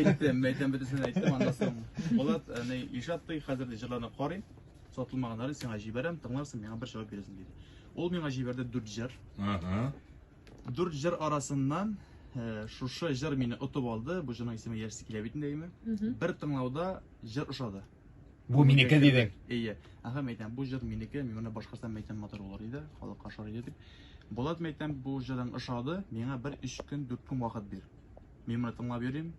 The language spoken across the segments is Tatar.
Әйттем, әйттем, бөтенсен әйттем, аннан соң. Булат, әни, Ишат ди, хәзер ди җырларны карыйм, сатылмаганнарын сиңа җибәрәм, тыңларсың, миңа бер җавап бирерсең диде. Ул миңа җибәрде дүрт җыр. Ага. Дүрт җыр арасыннан э, шушы җыр мине отып алды. Бу җырның исеме Яшьсе килә бит инде әйме. Бер тыңлауда җыр ошады. Бу минеке дидең. Әйе. Ага, мәйтәм, бу җыр минеке, мин моны башкарсам мәйтәм матур булыр иде, халыкка ошар иде дип. Булат мәйтәм, бу җырың ошады, миңа бер өч көн, дүрт көн вакыт бир. Мин моны тыңлап йөрим.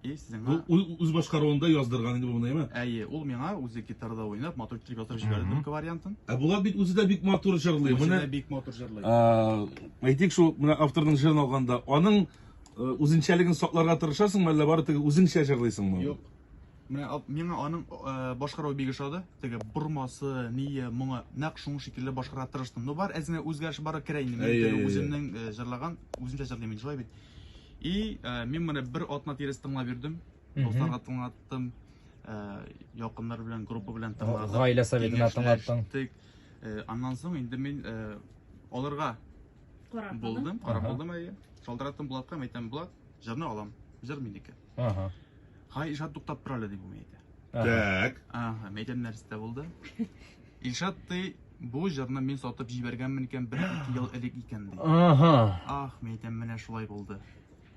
И сезнең Бу ү- үз башкаруында яздырган инде бу моны, әйме? Әйе, ул миңа үзе гитарада уйнап, матур итеп язып җибәрде Мгм. төрки вариантын. Ә Булат бит үзе дә бик матур җырлый. Үзе Менә дә бик матур җырлый. а, әйтик шул менә авторның җырын алганда, аның э, үзенчәлеген сакларга тырышасыңмы, әллә бары тик үзеңчә җырлыйсыңмы? Юк, Менә миңа аның э, башкаруы бик ошады. Теге бормасы, ние, моңа нәкъ шуның шикелле башкарырга тырыштым. Но бар әзенә үзгәреш бар керә инде. Мин үземнең э, җырлаган, үземчә җырлыйм инде шулай бит. И э, мин моны бер атна тирәсе тыңлап йөрдем. Дусларга тыңлаттым. Якыннар белән, группа белән тыңладым. Гаилә советына тыңлаттым. Аннан соң инде мин аларга булдым, карап булдым әйе. Шалтыраттым Булатка, әйтәм, Булат, җырны алам. Җыр минеке. Ага. Хай Илшат туктап тор әле дип мин әйтә. Так. Ага, мәйдән нәрсә булды? Илшат ты бу җырны мин сатып җибәргәнмен икән бер ике ел элек икән ди. Ага. Ах, мәйдән менә шулай булды.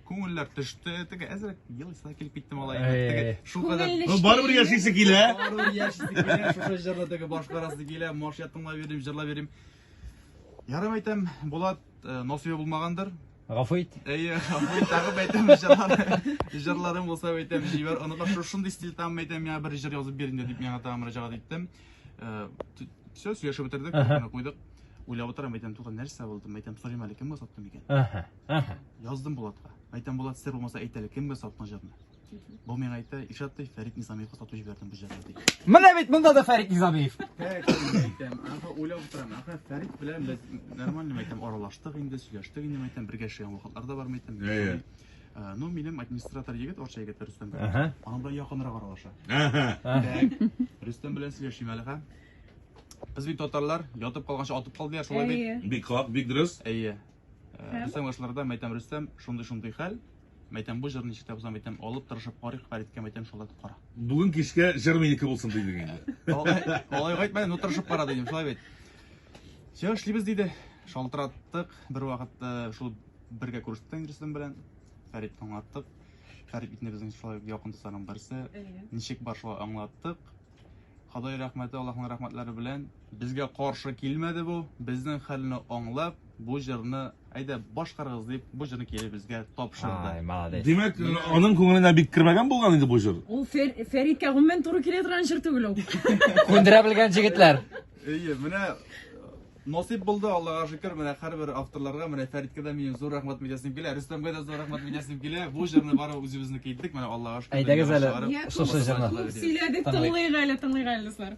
Күңелләр төште, теге әзрәк ел исә килеп китте малай. Теге шул кадәр. Ну барыбер яшисе килә. Барыбер яшисе килә. Шушы җырны теге башкарасы килә. Мош ятыңлап йөрим, җырлап йөрим. Ярым әйтәм, Булат насыйбы булмагандыр. Гафу ит. Әйе, гафу ит, тагы әйтәм җырлар. Җырларым булса әйтәм, җибәр. Аны бак шушындый стиль там әйтәм, миңа бер җыр язып бир инде дип миңа тагын мөрәҗәгать иттем. Э, Все, сөйләшеп бетердек, аны куйдык. Уйлап утырам, әйтәм, туган нәрсә булды? Әйтәм, сорыйм әле, кемгә саттым икән? Яздым Булатка. Әйтәм, Булат, сер булмаса әйтәле, кемгә саттың җырны? Бу миңа әйтә, Ишат ди, Фәрит Низамиевка сату җибәрдем бу җырны ди. Менә бит монда да Фәрит Низамиев. Әйтәм, ага, уйлап утырам. Ага, Фәрит белән без нормально мәйтәм аралаштык инде, сөйләштек инде мәйтәм, бергә эшләгән вакытлар да бар мәйтәм. Әйе. Э, Ну, минем администратор егет, Орча егет Рөстәм. Ага. Аның белән якынрак аралаша. Ага. Так, Рөстәм белән сөйләшим әле, ха. Без бит татарлар, ятып калганча атып кал дияр, шулай бит. Әйе. Бик хак, бик дөрес. Әйе. Э, Рөстәм ашларда мәйтәм Рөстәм, шундый-шундый хәл. Мәйтәм, бу җырны ничек тә бозам, мәйтәм, алып тырышып карыйк, Фәриткә мәйтәм, шулай итеп кара. Бүген кичкә җыр минеке булсын дидең инде. Алай гайтмә, ну тырышып кара дидем, шулай бит. Все, эшлибез диде. Шалтыраттык, бер вакыт э, шул бергә күрештек Индристан белән. Фәрит аңлаттык. Фәрит бит безнең шулай якын дусларның берсе. Ничек бар шулай аңлаттык. Ходай рәхмәте, Аллаһның рәхмәтләре белән. Безгә каршы килмәде бу, безнең хәлне аңлап, бу җырны әйдә башкарыгыз дип, бу җырны кире безгә тапшырды. Ай, молодец. Димәк, аның күңеленә бик кермәгән булган инде бу җыр. Ул Фер, Фәридкә гомумән туры килә торган җыр түгел ул. Күндерә белгән җегетләр. Әйе, менә Насыйп булды, Аллага шөкер, менә һәрбер авторларга, менә Фәриткә дә минем зур рәхмәт беләсем килә, Рөстәмгә дә зур рәхмәт беләсем килә. Бу җырны бары үзебезнеке иттек, менә Аллага шөкер. Әйдәгез әле шушы җырны. Күп сөйләдек, тыңлыйк әле, тыңлыйк әле, дуслар.